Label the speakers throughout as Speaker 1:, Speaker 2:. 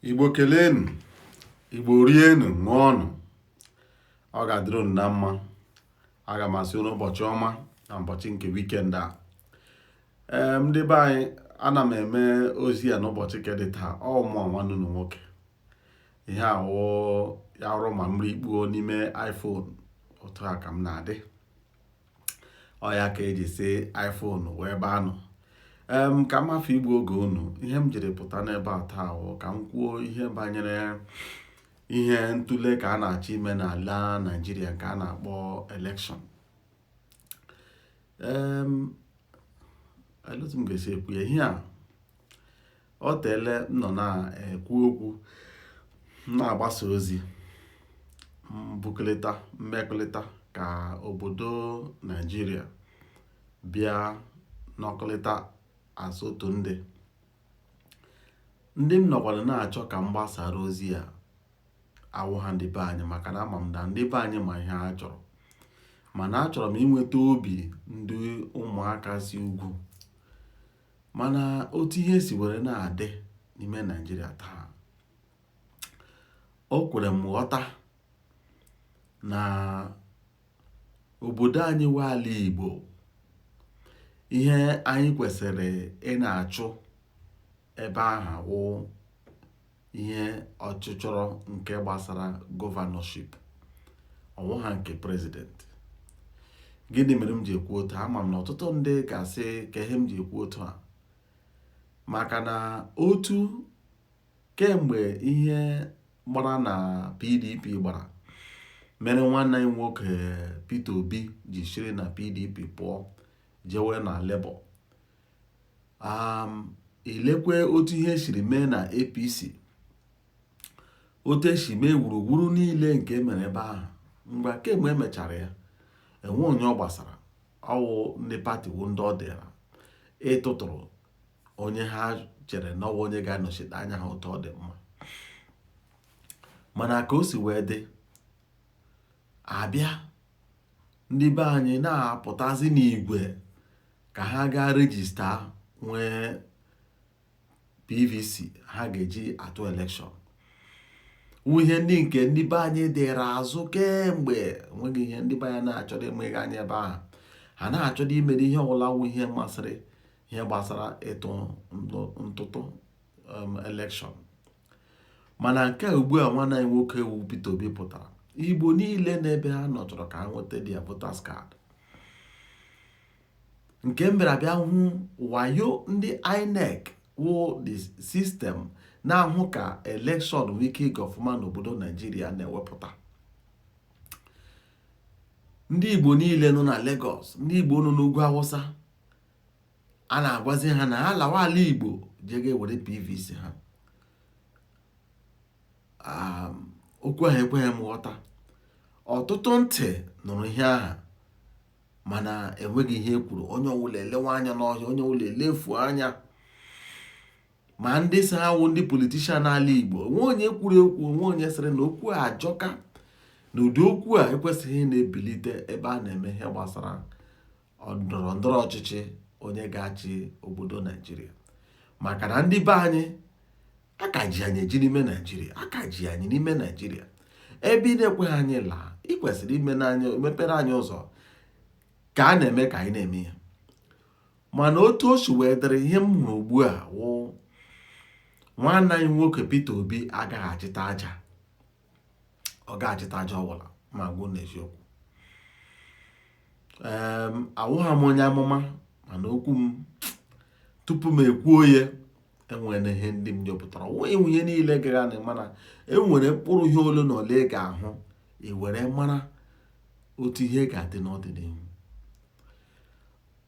Speaker 1: igbo kelenu igbo rienu ṅụọnụ ọ ga-adịrị unu na mma aga m asị unu ụbọchị ọma na ụbọchị nke wikend a ee ndị be anyị ana m eme ozi a n'ụbọchị nke dị taa ọ mụa nwanne unu nwoke ihe awụ ya ọrụ ma mmiri kpuo n'ime iphone otu a ka m na-adị ọ ya ka e ji sị iPhone nwe ebe a nọ em ka m hafụ igbu oge unu ihe m jiri pụta n'ebe a taa wụ ka m kwuo ihe banyere ihe ntuli aka a na-achọ ime n'ala Naịjirịa nke a na-akpọ elekshọn em etu m ga-esi ekwu ya ihe a o teele m nọ na-ekwu okwu na-agbasa ozi mbukọrịta mmekọrịta ka obodo Naijiria bịa nọkọrịta as otu ndị ndị m nọkwadụ na-achọ ka m gbasara ozi a awụha ndị be anyị maka na ama m na ndị be anyị ma ihe ha chọrọ mana achọrọ m inweta obi ndị ụmụaka si ugwu Mana otu ihe si were na-adị n'ime Naịjirịa taa, o kwere m ghọta na obodo anyị wụ ala Igbo, ihe anyị kwesịrị ị na-achụ ebe aha wụ ihe ọchịchọrọ nke gbasara gọvanọship ọ wụha nke prezidenti gịnị mere m ji ekwu otu a ama m na ọtụtụ ndị ga-asị kee ihe m ji ekwu otu a maka na otu kemgbe ihe gbara na pdp gbara mere nwanne anyị nwoke Peter Obi ji shiri na pdp pụọ jewe na Labour um ì lekwe otu ihe shiri mee nà APC otu e shì mee wùrùwuru niilė ǹkè e mèrè ebe ahà m̀gbè à kem̀gbè e mèchàrà ya è nwe onye ọ gbàsàrà ọ wụ ndị pati wụ ndị ọ dị̀rà ịtụtụ̀rụ̀ onye ha chèrè nà ọ wụ onye ga-anọ̀chite anya ha otu ọ dị̀ mma mànà kà o sì wee dị àbịa ndị be anyị na-apụtazi n'igwe ka ha gaa rejista nwee PVC ha ga-eji atụ elekshọn wụ ihe ndị nke ndị be anyị dịra azụ kemgbe enweghị ihe ndị be anyị na-achọdụ imeghe anya ebe aha ha na-achọdụ imere ihe ọwụla wụ ihe masịrị ihe gbasara ịtụ ntụtụ um, elekshọn Mana nke ugbu a nwanne anyị nwoke wu Peter Obi pụtara Igbo niile n'ebe ha nọ chọrọ ka ha nweta dia voters card nke m bịara bịa hụ wayo ndị INEC wụ the system na-ahụ ka election nwee ike ịga ọfụma n'obodo Naijiria na-ewepụta ndị Igbo niile nọ na Lagos ndị Igbo nọ n'ugwu Awụsa a na-agwazi ha na ha lawa ala Igbo jee gaa were PVC ha okwu ahụ ekweghị m ghọta ọtụtụ ntị nụrụ ihe ahụ mana enweghị ihe e kwuru onye ọwụla elewe anya n'ọhịa onye ọwụla elefu anya ma ndị sị ha wụ ndị politician n'ala Igbo o nwe onye kwuru ekwu o nwe onye sịrị na okwu a ajọka na ụdị okwu a ekwesịghị na-ebilite ebe a na-eme ihe gbasara ndọrọ ndọrọ ọchịchị onye ga-achị obodo naijiria maka na ndị be anyị aka ji anyị eji n'ime naijiria aka ji anyị n'ime naijiria ebe ị na-ekweghị anyị laa ị kwesịrị imepere anyị ụzọ ka a na-eme ka anyị na-eme ya mana otu o si wee dịrị ihe m hụrụ ugbu a wụ nwanne anyị nwoke Peter Obi agaghị achịta aja ọ ga-achịta aja ọwụla m agwa ụnụ eziokwu awụghị m onye amụma mana okwu m tupu m ekwuo ya enwere ihe ndị m chọpụtara ọ wụghị ihe niile ị ga-ahụ mana enwere mkpụrụ ihe ole na ole ị ga-ahụ i were mara otu ihe ga-adị n'ọdịnihu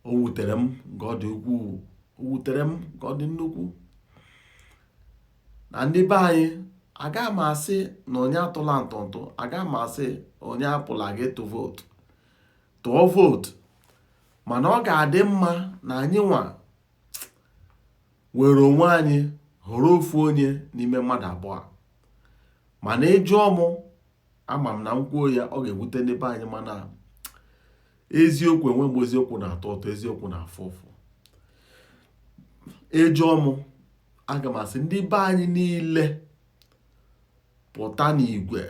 Speaker 1: o wutere m nke ọ dị ukwuu o wutere m nke ọ dị nnukwu na ndị be anyị agaghị m asị na onye atụla ntụntụ agaghị m asị onye apụla ga ịtụ vootu tụọ vootu mana ọ ga-adị mma na anyị nwa were onwe anyị họrọ ofu onye n'ime mmadụ abụọ mana ị jụọ mụ ama m na m kwuo ya ọ ga-ewute ndị be anyị mana eziokwu enwe mgbe eziokwu na-atọ ụtọ eziokwu na-afụ ụfụ ị jụọ mụ aga m asị ndị be anyị niile pụta n'igwe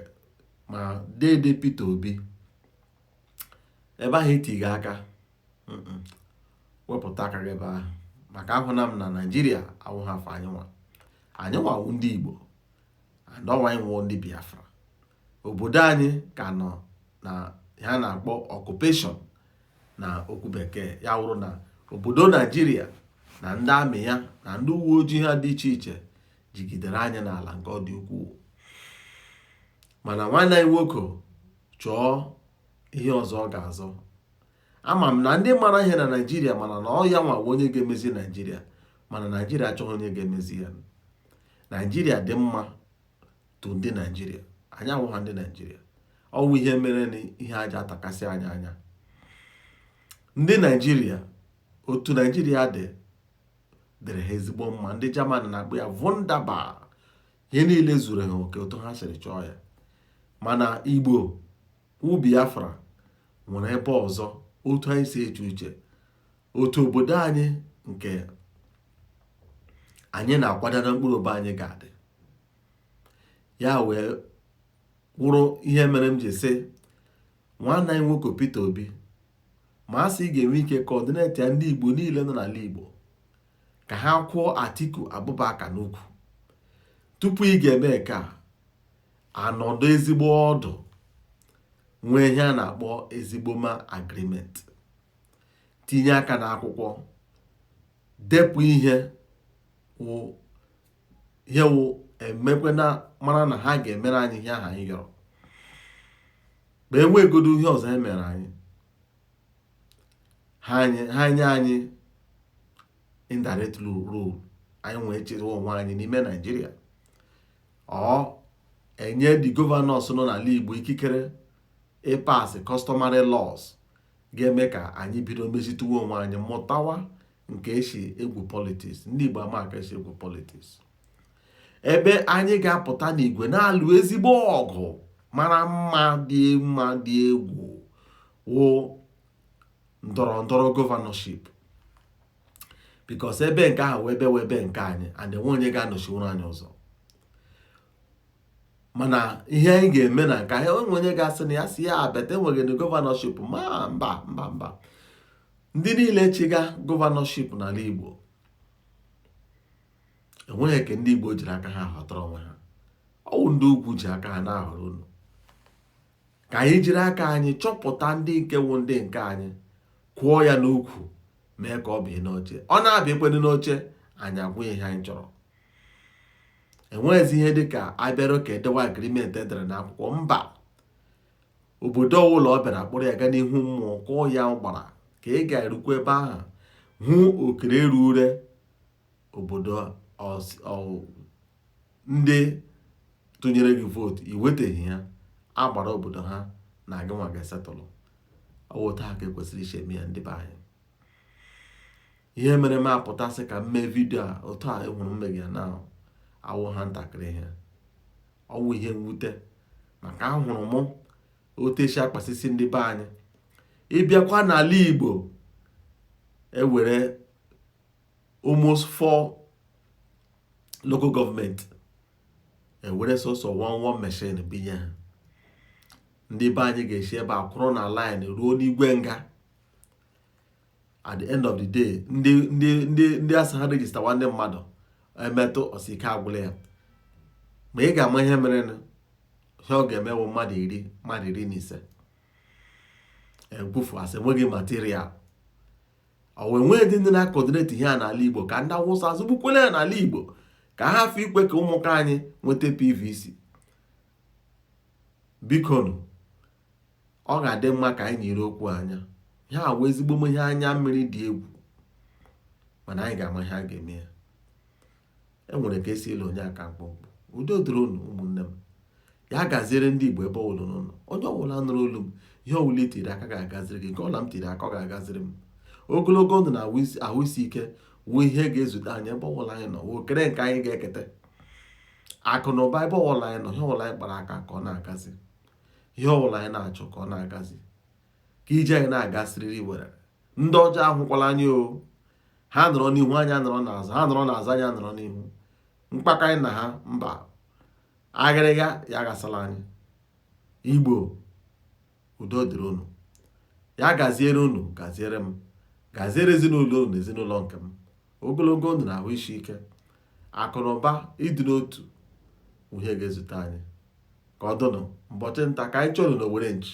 Speaker 1: ma dede Peter Obi ebe ahụ i tiri aka wepụta aka gị ebe ahụ maka ahụna m na Naịjirịa awụghị for anyị nwa anyị nwa wụ ndị Igbo and ọ wụ anyị wụ ndị Biafra obodo anyị ka nọ n'ihe a na-akpọ occupation na okwu bekee ya wụrụ na obodo naijiria na ndị amị ya na ndị uwe ojii ha dị iche iche jigidere anyị n'ala nke ọ dị ukwuu mana nwanne anyị nwoke chọọ ihe ọzọ ọ ga-azọ ama m na ndị mara ihe na naijiria mara na ọ ya nwa wụ onye ga-emezi naijiria mana naijiria achọghị onye ga-emezi ya naijiria dị mma to ndị naijiria anyị awụha ndị naijiria ọwụ ihe mere na ihe aja atakasị anyị anya ndị naijiria otu naijiria dị dịrị ha ezigbo mma ndị jaman na-akpọ ya wunderbar ihe niile zuru ha oke otu ha siri chọọ ya mana igbo wụ biafra nwere ebe ọzọ otu anyị si eche uche otu obodo anyị nke anyị na-akwado na mkpụrụ obi anyị ga-adị ya wee wụrụ ihe mere m ji sị nwanne anyị nwoke Peter Obi ma a sị ị ga-enwe ike kọọdinetịa ndị Igbo niile nọ n'ala Igbo ka ha kwụọ Atiku Abubakar n'ukwu tupu ị ga-eme nke a anọdụ ezigbo ọdụ nwee ihe a na-akpọ ezigbo ma agreement tinye aka n'akwụkwọ depụ ihe wụ ihe wụ emekwe na mara na ha ga-emere anyị ihe ahụ anyị yọrọ ma e nweegodo ihe ọzọ e mere anyị ha nye anyị indirect rule anyị wee chịwa onwe anyị n'ime naijiria ọ enye ndị gọvanọs nọ n'ala Igbo ikikere ịpass customary laws ga-eme ka anyị bido mezituwe onwe anyị mụtawa nke esi egwu politiks ndị Igbo ama ka esi egwu politiks ebe anyị ga-apụta n'igwe na-alụ ezigbo ọgụ mara mma dị mma dị egwu wụ ndọrọ ndọrọ gọvanọship because ebe nke ahụ wụ ebe wụ ebe nke anyị and enwe onye ga-anọchiwuru anyị ụzọ mana ihe anyị ga-eme na nke ahụ enwe onye ga-asị na ya si ya abeta enweghị na gọvanọship ma mba mba mba ndị niile chịga gọvanọship n'ala Igbo enweghị nke ndị Igbo jiri aka ha họtara onwe ha ọwụ ndị ugwu ji aka ha na-ahọrọ unu ka anyị jiri aka anyị chọpụta ndị nke wụ ndị nke anyị kwụọ ya n'ukwu mee ka ọ bịa n'oche ọ na-abịa ekwedị n'oche anyị agwa ya ihe anyị chọrọ enweghịzi ihe dịka a bịara ka e dewa agreement e dere n'akwụkwọ mba obodo ọbụla ọ bịara kpọrọ ya ga n'ihu mmụọ kụọ ya agbara ka ị ga-erukwa ebe ahụ hụ okere eru ure obodo ndị tụnyere gị vootu iweteghị ya agbara obodo ha na gị nwa ga-esetụlụ ọwụ otu ahụ ka ekwesịrị isi eme ya ndị be anyị ihe mere m apụta sị ka m mee vidio a otu a ahụrụ m ya na awụ ha ntakịrị ihe ọwụ ihe mwute maka ahụrụ m otu esi akpasisi ndị be anyị ịbịakwa n'ala Igbo ewere almost four local government ewere sọsọ one one machine binye ha ndị be anyị ga-esi ebe a kwụrụ na line ruo n'igwe nga at the end of the day ndị ndị ndị ndị asị ha regista nwanne mmadụ emetụ ọ sị ike agwụla ya ma ị ga-ama ihe mere na ihe ọ ga-eme wụ mmadụ iri mmadụ iri na ise ebufu asị enweghị material ọwụ enweghịdị ndị na-akọdineti ihe a n'ala igbo ka ndị awụsa azụgbukwele ya n'ala igbo ka ha hafụ ikwe ka ụmụaka anyị nweta pvc bikonu ọ ga-adị mma ka anyị nyere okwu anya ihe a wụ ezigbo ihe anya mmiri dị egwu mana anyị ga-ama ihe a ga-eme ya e nwere ka esi ele onye aka mkpụmkpụ udo dịrị unu ụmụnne m ya gaziere ndị Igbo ebe ọwụla unu nọ onye ọwụla nụrụ olu m ihe ọwụla itiri aka ga-agaziri gị nke ọla m tiri aka ọ ga-agaziri m ogologo ndụ na ahụ isi ike wụ ihe ga-ezute anyị ebe ọwụla anyị nọ wụ okere nke anyị ga-eketa akụ na ụba ebe ọwụla anyị nọ ihe ọwụla anyị kpara aka ka ọ na-agazi ihe ọwụla anyị na-achọ ka ọ na-agazi ka ije anyị na-aga siriri were ndị ọjọọ ahụkwala anyị o ha nọrọ n'ihu anyị nọrọ n'azụ ha nọrọ n'azụ anyị nọrọ n'ihu mkpakọ anyị na ha mba agịrịga ya gasala anyị igbo udo dịrị unu ya gaziere unu gaziere m gaziere ezinụlọ unu na ezinụlọ nke m ogologo ndụ na ahụ isi ike akụnụba ịdị n'otu wụ ihe ga-ezute anyị ka ọ dụnụ mbọchị nta ka anyị chụrụ n'owere nchi